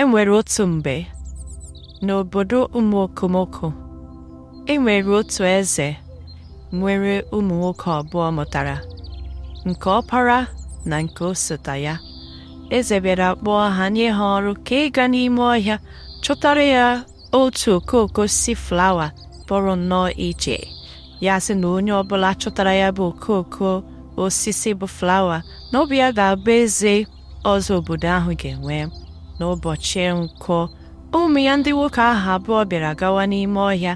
E nwere otu mgbe n'obodo ụmụ okomoko e nwere otu eze nwere ụmụ nwoke abụọ mụtara nke ọpara na nke osota ya eze bịara kpọọ ha nye ha ọrụ ka ịga n'ime ọhịa chọtara ya otu okooko osisi flawa pụrụ nnọọ iche ya sị na onye ọbụla chọtara ya bụ okooko osisi bụ flawa na ọ bụ ya ga-abụ eze ọzọ obodo ahụ ga-enwe n'ụbọchị nkwọ ụmụ ya ndị nwoke ahụ abụọ bịara gawa n'ime ọhịa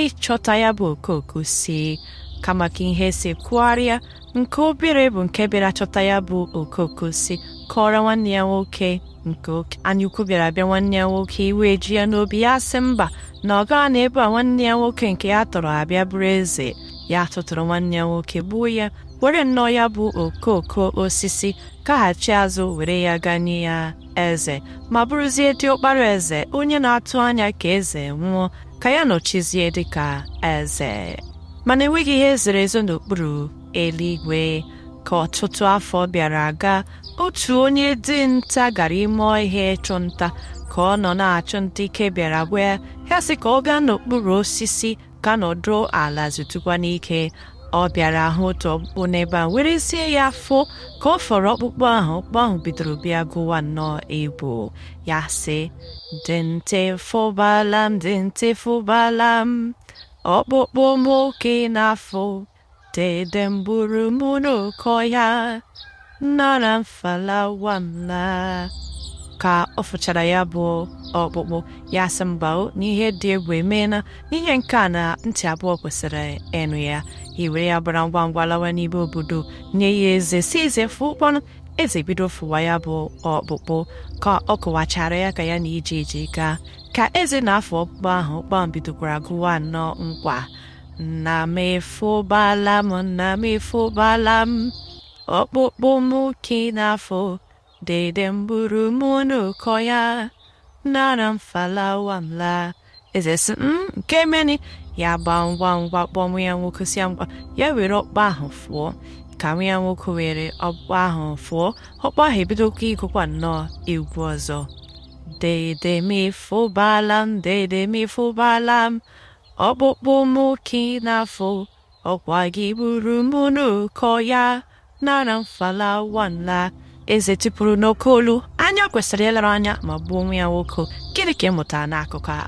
ịchọta ya bụ okooko osisi kama ka ihe si kwụgharịa nke obere bụ nke bịara chọta ya bụ okooko osisi kọọrọ nwanne ya nwoke nke oke anyaukwu bịara bịa nwanne ya nwoke iwe eji ya n'obi ya sị mba na ọ gaghị anọ ebe a nwanne ya nwoke nke ya tọrọ abịa bụrụ eze ya tụtụrụ nwanne ya nwoke gbuo ya were nnọọ ya bụ okooko osisi gaghachi azụ were ya gaa nye ya eze ma bụrụzie diọkpara eze onye na-atụ anya ka eze nwụọ ka ya nọchizie dịka eze mana enweghị ihe zoro ezo n'okpuru eluigwe ka ọtụtụ afọ bịara aga otu onye dinta gara ime ọhịa ịchụ nta ka ọ nọ na-achụ nta ike bịara gwụ ya ya sị ka ọ gaa n'okpuru osisi ka nọdụ ala zutụkwanụ ike ọ bịara hụ otu ọkpụkpụ n'ebe a were sị ya fụọ ka ọ fụrụ ọkpụkpụ ahụ ọkpụkpụ ahụ bidoro bịa gụwa nnọọ egwu ya sị dinta ị fụbala m dinta ị fụbala m ọkpụkpụ m ka ị na-afụ Dede m gburu m n'oke ọhịa nara m falawa m laa ka ọ fụchara ya bụ ọkpụkpụ ya sị mba o n'ihe dị egwu emeela n'ihe nke a na ntị abụọ kwesịrị ịnụ ya ewere ya gbara ngwa ngwa lawa n'ime obodo nye ya eze sị eze fụkwanụ eze bido fụwa ya bụ ọkpụkpụ ka ọ kọwachara ya ka ya na ije ji gaa ka eze na-afụ ọkpụkpụ ahụ ọkpụkpụ bidokwara gụwa nnọọ nkwa nna m ị fụbala m nna m ị fụbala m ọkpụkpụ m ka ị na-afụ dede m gburu m n'oke ọhịa nara m falawa m laa eze sị nke meni ya gbaa ngwa ngwa kpọọ nwa ya nwoke sị ya ngwa ya were ọkpụkpụ ahụ fụọ ka nwa ya nwoke were ọkpụkpụ ahụ fụọ ọkpụkpụ ahụ ebidokwa ịgụkwa nnọọ egwu ọzọ dede m ị fụbala m dede m ị fụbala m ọkpụkpụ m ka ị na-afụ ọkwa gị gburu m n'oke ọhịa nara m falawa m laa eze tipụrụ n'oke olu anya kwesịrị ịlere anya ma gbuo nwa ya nwoke gịnị ka ị mụtara n'akụkọ a